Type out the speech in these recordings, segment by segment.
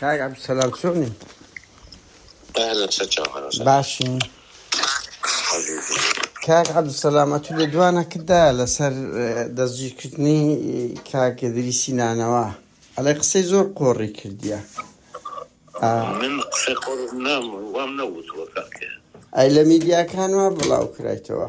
کاک عبدالسلام سونی اهلا وسهلا اهلا وسهلا باشی عزیزی کاک عبدالسلام ئەتو لە دوانە کدا لەسەر دەستگیرکردنی کاکەدریسی نانەوە ئەڵێ قسەی زۆر قۆڕی کردیە ئا من قسەی قۆڕ نام وام نەوتووە کاکە ئەی لە میدیاکان وا بڵاو کرایتەوە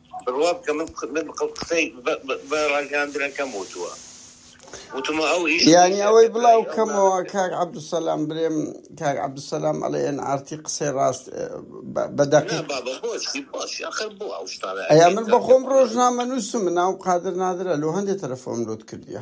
بڕوا بکە من قسەی بە ڕاگەیاندنەکەم وتووە وتمە ئەو ئیش یانی ئەوەی بڵاو کەمەوە کاک عەبدوسەلام برێم کاک عەبدوسەلام ئەڵێ ئێن ئارتی قسەی ڕاست بە دەقیق ئەیا من بەخۆم ڕۆژنامە نووسم ناوم قادر نادرە لۆ هەندێک تەلەفۆم لۆت کردیە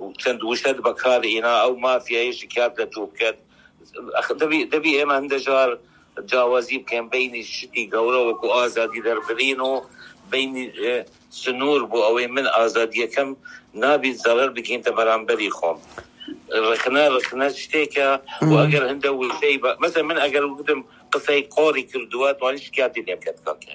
و چەند وشەت بەکار هینا ئەو مافیایە شکات لە تو بکەت ئەخ دەبی دەبی ئێمە هندە جار جاوازی بکەین بەینی شتی گەورە وەکو ئازادی دەربرین و بەینی سنور بو ئەوەی من ئازادیەکەم نابیت زەرەر بگینتە بەرامبەری خۆم رخنە رخنە شتێکە و ئەگەر هندە وشەی بە مەسەن من ئەگەر وگوتم قسەی قۆری کردوە توانی شکاتی لێ بکەت کاکە.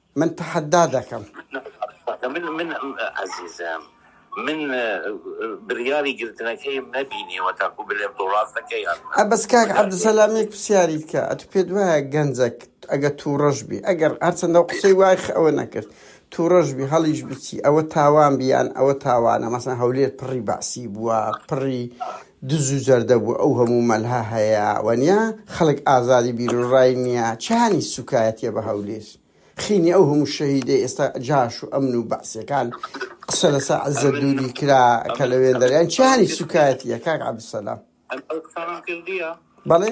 من تەحەدا دەکەم. من من عەزیزم من بریاری گرتنەکەیم نەبینیوە تاکو بلێم تۆ راست دەکەی یان نا ئە بەس کاک بریاری گرت عەبدولسەلام یەک پرسیاریت کە ئەتو پێت وایە گەنجەک ئەگە تووڕەش بی ئەگەر هەرچەندە و قسەی وای خ- ئەوە نەکرد تووڕەش بی هەڵیش بچی ئەوە تاوان بیان ئەوە تاوانە مەسەن هەولێر پڕی بەعسی بووە پڕی دز و جەردە بوو ئەو هەموو مەلها هەیە وەنیا خەڵک ئازادی بیرو ڕای نیە چانی سوکایەتیە بە هەولیر خینی ئەو هەموو شەهیدەی ئێستا جاش و ئەمن و بەعسیەکان قسە لەسە عزەت دوری کرا کە لە وێندەریان چانی سوکایەتیە کاک عبدالسلام بەڵێ.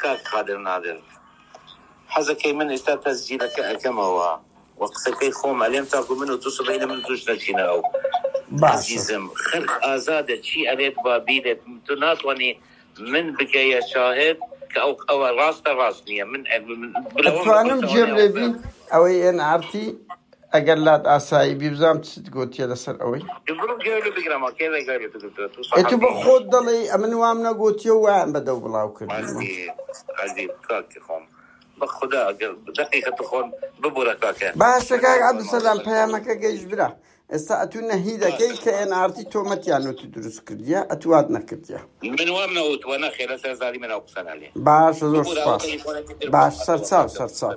کاک قادر نادر حەزەکەی من ئیستا تەسجیلەکە ئەکەمەوە و قسەکەی خۆم ئەلێم تاکو من و تو سبەینێ من توش نەچینە ئەو باشە. ئەزیزم خەلک ئازادە چی ئەلێت با بیلێت تو ناتوانی من بکەیە شاهد کە ئەو ئەوە راستە راست نیە من ئەتوانم جێم لێ بی ئەوەی ئێن ئارتی. ئەگەر لات ئاسایی بی بزانم چت گۆتیە لەسەر ئەوەی ئەتو بە خۆت دەڵێ ئەمن وام نەگۆتیە وایان بەدەو بڵاو کردم بەخدا دقیقە تخۆن ببورە کاکە باشە کاک عبدسەلام پەیامەکە گەیش برا ئێستا ئەتو نەهی دەکەی کە ئێن ئارتی تۆمەتیان وتی دروست کردیە ئەتوات نەکردیە من وام نەوت وە نەخێرە سەر زاری منە قسەنالێ باشە زۆر باش سەرچاو سەرچاو